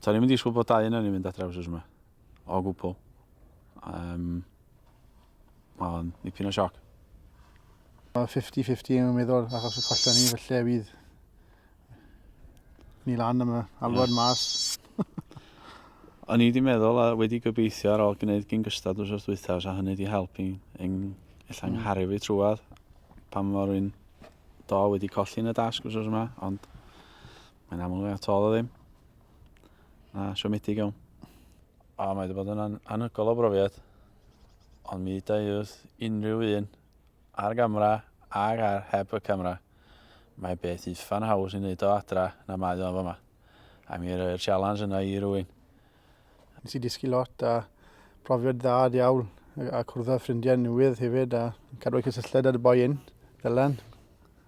To'n i'm yn disgwyl bod dau yna ni'n mynd adre wrth yma. O gwbl. Um, Mae'n nipyn o sioc. 50-50 yn meddwl, achos y collion ni, felly fydd ni lan am y alwad mas. O'n i wedi meddwl a wedi gobeithio ar ôl gwneud gyn gystad wrth wrth dwythaf, a hynny wedi helpu yn ella mm. ngharu fi trwad, pan mor un do wedi colli yn y dasg os oes yma, ond mae'n aml fe at ôl o ddim. Na, siomedig iawn. A mae wedi bod yn anhygol o brofiad, ond mi da i wrth unrhyw un ar gamra ag ar heb y camera. Mae beth uffan haws i wneud o adra na mae o'n fama. A mi roi'r sialans yna i rwy'n. Nes i dysgu lot a profiad dda diawl a cwrdd â ffrindiau newydd hefyd a cadw y cysylltiad â dy boi un, Dylan.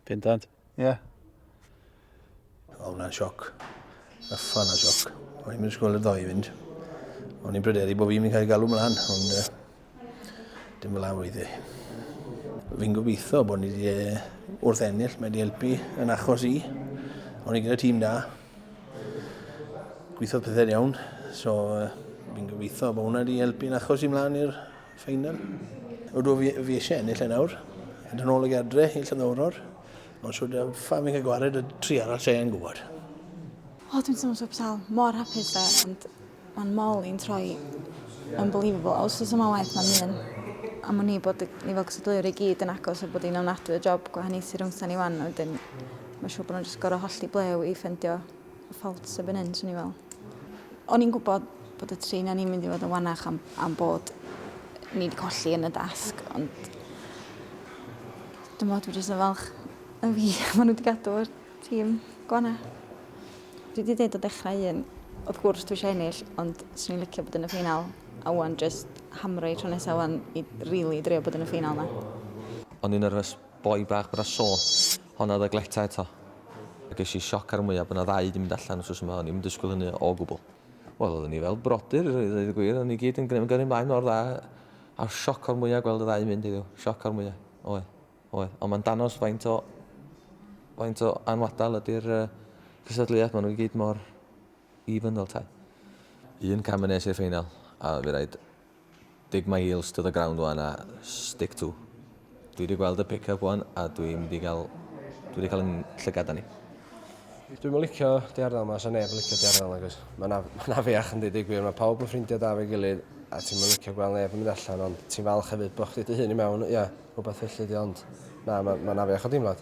Bendant. Ie. Yeah. O, hwnna'n sioc. Yffan o sioc. O'n i'n mynd ysgol y ddoe i fynd. O'n i'n pryderu bod fi'n mynd cael galw mlaen, ond uh, Dim fel awydd i. Fi'n gobeithio bod ni wedi e, wrth ennill, mae wedi helpu yn achos i. Ond i gyda tîm da. Gweithiodd pethau iawn. So, uh, fi'n gobeithio bod hwnna wedi helpu yn achos i mlaen i'r ffeinal. Ydw fi, fi eisiau ennill yn e awr. Yn ôl y gadre i Llyddawror. Ond siwr da, ffa fi'n cael gwared y tri arall sy'n gwybod. O, dwi'n teimlo siwr pethau mor hapus da, ond Mae'n mol i'n troi unbelievable. Os oes yma waith mae'n un am wn i bod ni fel cysadleuwyr i gyd yn agos a bod ni'n ofnadwy o job gwahaniaethu rhwngta ni wan a wedyn mae'n siŵr bod nhw'n just gorau hollti blew i ffendio y ffault sy'n byn hyn, swn i fel. O'n i'n gwybod bod y tri na ni'n mynd i fod yn wanach am, am bod ni wedi colli yn y dasg, ond dwi'n bod, dwi'n just yn falch y fi, maen nhw wedi gadw Tîm Gwana. Dwi 'di deud o dechrau un, wrth gwrs dwi eisiau ennill, ond swn i'n licio bod yn y ffeinal, a wan jyst hamro i tro nesa wan i rili drio bod yn y ffeinal 'na. O'n i'n nyrfys boi bach bod 'na sôn honna oedd y gleta eto. A ges i sioc ar y mwya' bod 'na ddau 'di mynd allan wsos yma, o'n i'm yn disgwyl hynny o gwbl. Wel oedden ni fel brodyr i ddeud y gwir, o'n ni gyd yn gyrru mlaen mor dda, a sioc o'r mwya' gweld y ddau yn mynd heddiw, sioc o'r mwya', oedd. Oedd, ond mae'n danos faint o, faint o anwadal ydy'r uh, cysadleuaeth, maen nhw i gyd mor even fel tai. Un cam yn nes i'r ffeinal, a fi rhaid dig my heels to the ground wan a stick to. Dwi wedi gweld y pick-up wan a dwi'n mynd i gael, dwi wedi cael yn llygad ni. Dwi'n mynd licio di ardal yma, so neb yn licio di ardal yma, cos mae'n na, ma na fiach yn dweud gwir, mae pawb yn ffrindiau da fe gilydd, a ti'n mynd licio gweld neb yn mynd allan, ond ti'n falch hefyd bod chdi dy hun i mewn, ia. Yeah. rhywbeth felly ydi o ond na ma' ma'n afiach o deimlad.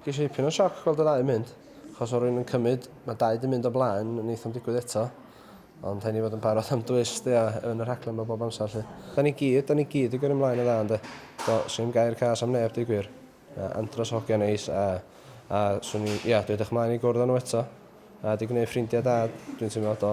Gesh i ipyn o sioc gweld y ddau yn mynd, achos o' rywun yn cymyd, ma' dau 'di mynd o blaen neith o'm digwydd eto, ond rhai' ni fod yn barod am dwist ia yn y rhaglen 'ma bob amsar 'lly. Da ni gyd, da ni gyd 'di gyrru mlaen yn dda ynde? Do, swn i'm gair cas am neb deu gwir. Mae Andros o hogia neis a a swn i ia dwi edrych mlaen i gwrdd â nhw eto a 'di gneud ffrindia da dwi'n teimlo do.